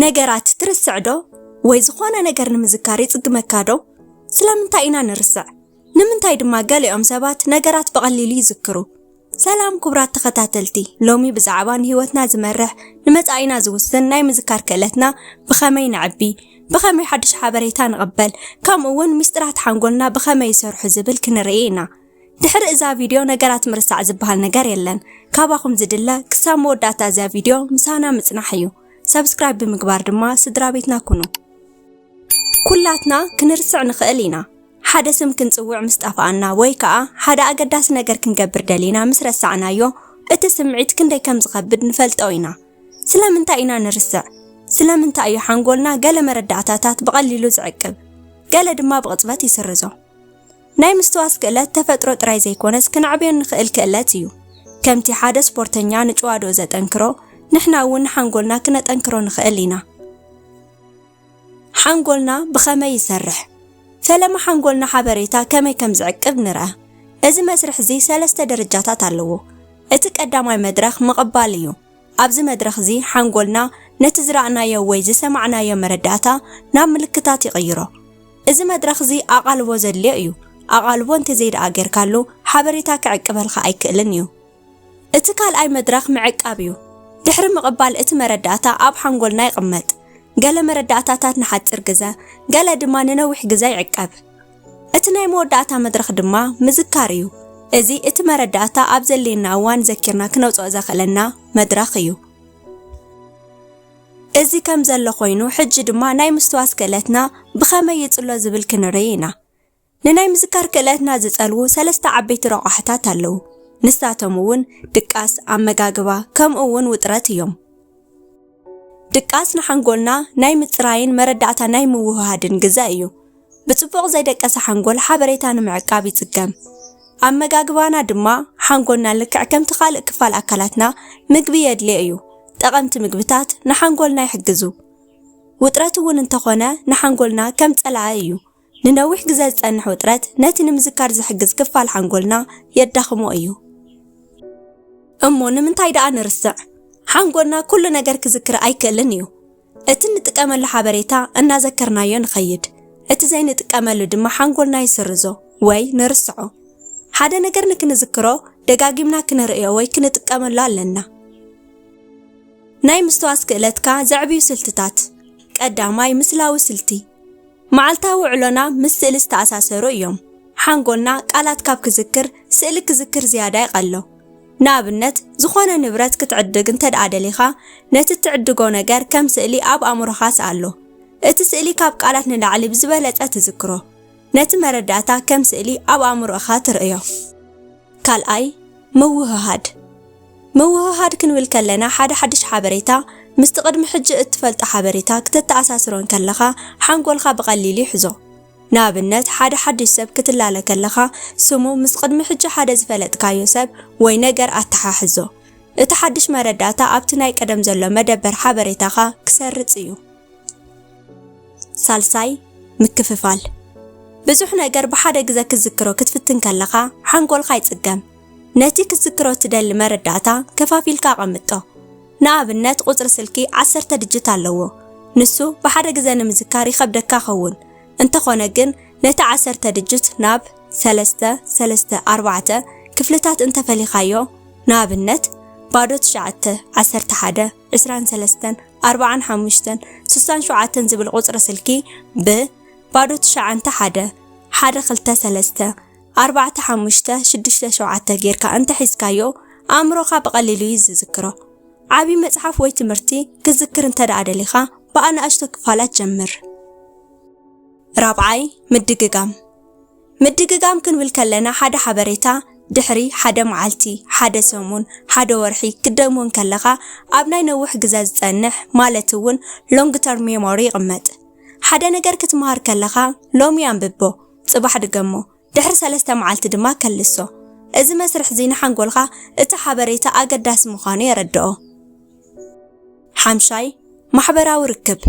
ነገራት ትርስዕ ዶ? ወይ ዝኾነ ነገር ንምዝካር ይጽግመካ ዶ? ስለምንታይ ኢና ንርስዕ? ንምንታይ ድማ ገሊኦም ሰባት ነገራት ብቐሊሉ ይዝክሩ? ሰላም ኩቡራት ተኸታተልቲ ሎሚ ብዛዕባ ንህይወትና ዝመርሕ ንመጻኢና ዝውስን ናይ ምዝካር ክእለትና ብኸመይ ነዕቢ ብኸመይ ሓድሽ ሓበሬታ ንቕበል ከምኡ እውን ሚስጥራት ሓንጎልና ብኸመይ ይሰርሑ ዝብል ክንርኢ ኢና ድሕሪ እዛ ቪድዮ ነገራት ምርሳዕ ዝበሃል ነገር የለን ካባኹም ዝድለ ክሳብ መወዳእታ እዛ ቪድዮ ምሳና ምጽናሕ እዩ ሰብስክራይብ ብምግባር ድማ ስድራቤትና ኩኑ። ኩላትና ክንርስዕ ንኽእል ኢና። ሓደ ስም ክንጽውዕ ምስ ጠፍኣና ወይ ከኣ ሓደ ኣገዳሲ ነገር ክንገብር ደሊና ምስ ረሳዕናዮ፣ እቲ ስምዒት ክንደይ ከም ዝኸብድ ንፈልጦ ኢና። ስለምንታይ ኢና ንርስዕ? ስለምንታይ እዩ ሓንጎልና ገለ መረዳእታታት ብቐሊሉ ዝዕቅብ፣ ገለ ድማ ብቕጽበት ይስርዞ? ናይ ምስትዋስ ክእለት ተፈጥሮ ጥራይ ዘይኮነስ ክነዕብዮ እንኽእል ክእለት እዩ። ከምቲ ሓደ ስፖርተኛ ንጭዋዶኡ ዘጠንክሮ፣ ንሕና እውን ንሓንጎልና ክነጠንክሮ ንኽእል ኢና። ሓንጎልና ብኸመይ ይሰርሕ? ፈለማ ሓንጎልና ሓበሬታ ከመይ ከም ዝዕቅብ ንርኣ። እዚ መስርሕ እዚ ሰለስተ ደረጃታት ኣለዎ። እቲ ቀዳማይ መድረኽ ምቕባል እዩ። ኣብዚ መድረኽዚ ሓንጎልና ነቲ ዝረኣናዮ ወይ ዝሰማዕናዮ መረዳእታ ናብ ምልክታት ይቕይሮ። እዚ መድረኽዚ ኣቓልቦ ዘድልዮ እዩ፣ ኣቓልቦ እንተዘይደኣ ጌርካሉ ሓበሬታ ክዕቅበልካ ኣይክእልን እዩ። እቲ ካልኣይ መድረኽ ምዕቃብ እዩ። ድሕሪ ምቕባል እቲ መረዳእታ ኣብ ሓንጎልና ይቕመጥ። ገለ መረዳእታታት ንሓጺር ግዘ፣ ገለ ድማ ንነዊሕ ግዘ ይዕቀብ። እቲ ናይ መወዳእታ መድረኽ ድማ ምዝካር እዩ። እዚ እቲ መረዳእታ ኣብ ዘድልየና እዋን ዘኪርና ክነውጽኦ ዘኽእለና መድረኽ እዩ። እዚ ከም ዘሎ ኮይኑ ሕጂ ድማ ናይ ምስትዋስ ክእለትና ብኸመይ ይጽሎ ዝብል ክንርኢ ኢና። ንናይ ምዝካር ክእለትና ዝጸልዉ ሰለስተ ዓበይቲ ረቋሕታት ኣለዉ። ንሳቶም እውን ድቃስ፣ ኣመጋግባ ከምኡ እውን ውጥረት እዮም። ድቃስ ንሓንጎልና ናይ ምጽራይን መረዳእታ ናይ ምውህሃድን ግዘ እዩ። ብጽቡቕ ዘይደቀሰ ሓንጎል ሓበሬታ ንምዕቃብ ይጽገም። ኣመጋግባና ድማ ሓንጎልና ልክዕ ከምቲ ካልእ ክፋል ኣካላትና ምግቢ የድልዮ እዩ። ጠቐምቲ ምግብታት ንሓንጎልና ይሕግዙ። ውጥረት እውን እንተኾነ ንሓንጎልና ከም ጸላኢ እዩ። ንነዊሕ ግዘ ዝፀንሕ ውጥረት ነቲ ንምዝካር ዝሕግዝ ክፋል ሓንጎልና የዳኽሞ እዩ። እሞ ንምንታይ ደኣ ንርስዕ? ሓንጎልና ኩሉ ነገር ክዝክር ኣይክእልን እዩ። እቲ እንጥቀመሉ ሓበሬታ እናዘከርናዮ ንኸይድ፣ እቲ ዘይንጥቀመሉ ድማ ሓንጎልና ይስርዞ ወይ ንርስዖ። ሓደ ነገር ንክንዝክሮ ደጋጊምና ክንርእዮ ወይ ክንጥቀመሉ ኣለና። ናይ ምስትዋስ ክእለትካ ዘዕብዩ ስልትታት ቀዳማይ ምስላዊ ስልቲ መዓልታዊ ውዕሎና ምስ ስእሊ ዝተኣሳሰሩ እዮም። ሓንጎልና ቃላት ካብ ክዝክር፣ ስእሊ ክዝክር ዝያዳ ይቐሎ። ንኣብነት፣ ዝኾነ ንብረት ክትዕድግ እንተድኣ ደሊኻ፣ ነቲ እትዕድጎ ነገር ከም ስእሊ ኣብ ኣእምሮኻ ስኣሎ። እቲ ስእሊ ካብ ቃላት ንላዕሊ ብዝበለጸ ትዝክሮ። ነቲ መረዳእታ ከም ስእሊ ኣብ ኣእምሮእኻ ትርእዮ። ካልኣይ፣ ምውህሃድ። ምውህሃድ ክንብል ከለና ሓደ ሓድሽ ሓበሬታ ምስቲ ቅድሚ ሕጂ እትፈልጦ ሓበሬታ ክተተኣሳስሮ እንከለኻ ሓንጎልካ ብቐሊሉ ይሕዞ። ንኣብነት ሓደ ሓድሽ ሰብ ክትላለ ከለኻ ስሙ ምስ ቅድሚ ሕጂ ሓደ ዝፈለጥካዮ ሰብ ወይ ነገር ኣተሓሕዞ። እቲ ሓድሽ መረዳእታ ኣብቲ ናይ ቀደም ዘሎ መደበር ሓበሬታኻ ክሰርጽ እዩ። ሳልሳይ፣ ምክፍፋል። ብዙሕ ነገር ብሓደ ግዘ ክትዝክሮ ክትፍትን ከለኻ ሓንጎልካ ይፅገም። ነቲ ክትዝክሮ እትደሊ መረዳእታ ከፋፊልካ ኣቐምጦ። ንኣብነት ቁፅሪ ስልኪ ዓሰርተ ድጅት ኣለዎ። ንሱ ብሓደ ግዘ ንምዝካር ይኸብደካ ይኸውን። እንተኾነ ግን ነቲ ዓሰርተ ድጅት ናብ ሰለስተ፣ ሰለስተ፣ ኣርባዕተ፣ ክፍልታት እንተፈሊኻዮ፣ ንኣብነት ባዶ ትሽዓተ፣ ዓሰርተ ሓደ፣ ዕስራን ሰለስተን፣ ኣርባዓን ሓሙሽተን፣ ስሳን ሸውዓተን ዝብል ቁጽሪ ስልኪ ብ ባዶ ትሽዓንተ ሓደ፣ ሓደ ክልተ ሰለስተ፣ ኣርባዕተ ሓሙሽተ ሽዱሽተ ሸውዓተ ጌርካ እንተ ሒዝካዮ ኣእምሮኻ ብቐሊሉ እዩ ዝዝክሮ። ዓቢ መጽሓፍ ወይ ትምህርቲ ክትዝክር እንተ ደኣ ደሊኻ ብኣናእሽቶ ክፋላት ጀምር። ራብዓይ፣ ምድግጋም ምድግጋም ክንብል ከለና ሓደ ሓበሬታ ድሕሪ ሓደ መዓልቲ፣ ሓደ ሰሙን፣ ሓደ ወርሒ ክትደግሞ እንከለኻ ኣብ ናይ ነውሕ ግዘ ዝፀንሕ ማለት እውን ሎንግ ተርም ሜሞሪ ይቕመጥ። ሓደ ነገር ክትምሃር ከለኻ ሎሚ ኣንብቦ፣ ፅባሕ ድገሞ፣ ድሕሪ ሰለስተ መዓልቲ ድማ ከልሶ። እዚ መስርሕ እዚ ንሓንጎልካ እቲ ሓበሬታ ኣገዳሲ ምዃኑ የረድኦ። ሓምሻይ፣ ማሕበራዊ ርክብ፣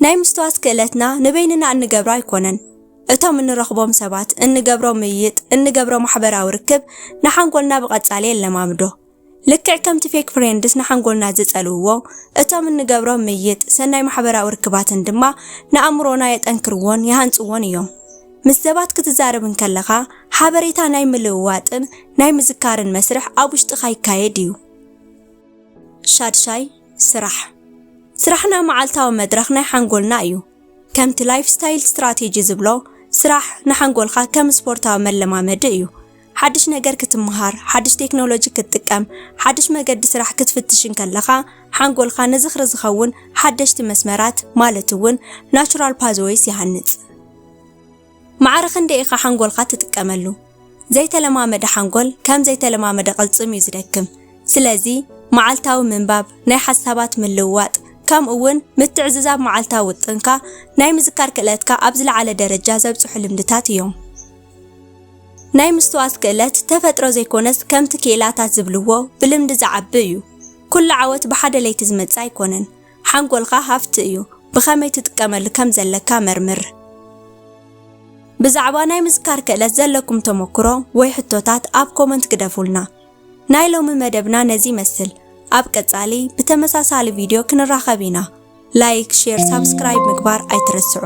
ናይ ምስትዋት ክእለትና ንበይንና እንገብሮ ኣይኮነን። እቶም እንረኽቦም ሰባት፣ እንገብሮ ምይይጥ፣ እንገብሮ ማሕበራዊ ርክብ ንሓንጎልና ብቐጻሊ የለማምዶ። ልክዕ ከምቲ ፌክ ፍሬንድስ ንሓንጎልና ዝጸልውዎ፣ እቶም እንገብሮም ምይይጥ፣ ሰናይ ማሕበራዊ ርክባትን ድማ ንኣእምሮና የጠንክርዎን ይሃንጽዎን እዮም። ምስ ሰባት ክትዛረብ እንከለኻ፣ ሓበሬታ ናይ ምልውዋጥን ናይ ምዝካርን መስርሕ ኣብ ውሽጥኻ ይካየድ እዩ። ሻድሻይ፣ ስራሕ። ስራሕና መዓልታዊ መድረኽ ናይ ሓንጎልና እዩ። ከምቲ ላይፍ ስታይል ስትራቴጂ ዝብሎ፣ ስራሕ ንሓንጎልካ ከም ስፖርታዊ መለማመዲ እዩ። ሓድሽ ነገር ክትመሃር፣ ሓድሽ ቴክኖሎጂ ክትጥቀም፣ ሓድሽ መገዲ ስራሕ ክትፍትሽ እንከለኻ፣ ሓንጎልካ ንዝኽሪ ዝኸውን ሓደሽቲ መስመራት፣ ማለት'ውን ናቹራል ፓዝወይስ ይሃንጽ። ማዕረ ክንደይ ኢኻ ሓንጎልካ ትጥቀመሉ? ዘይተለማመደ ሓንጎል ከም ዘይተለማመደ ቅልጽም እዩ ዝደክም። ስለዚ መዓልታዊ ምንባብ፣ ናይ ሓሳባት ምልውዋጥ፣ ከምኡ'ውን ምትዕዝዛብ መዓልታዊ ውጥንካ ናይ ምዝካር ክእለትካ ኣብ ዝለዓለ ደረጃ ዘብጽሑ ልምድታት እዮም። ናይ ምስትዋስ ክእለት ተፈጥሮ ዘይኮነስ ከምቲ ክኢላታት ዝብልዎ ብልምዲ ዝዓቢ እዩ። ኩሉ ዓወት ብሓደ ለይቲ ዝመጽእ ኣይኮነን። ሓንጎልካ ሃፍቲ እዩ፣ ብኸመይ ትጥቀመሉ ከም ዘለካ መርምር። ብዛዕባ ናይ ምዝካር ክእለት ዘለኩም ተመኩሮ ወይ ሕቶታት ኣብ ኮመንት ግደፉልና። ናይ ሎሚ መደብና ነዚ ይመስል፣ ኣብ ቀጻሊ ብተመሳሳሊ ቪድዮ ክንራኸብ ኢና። ላይክ፣ ሼር፣ ሳብስክራይብ ምግባር ኣይትረስዑ።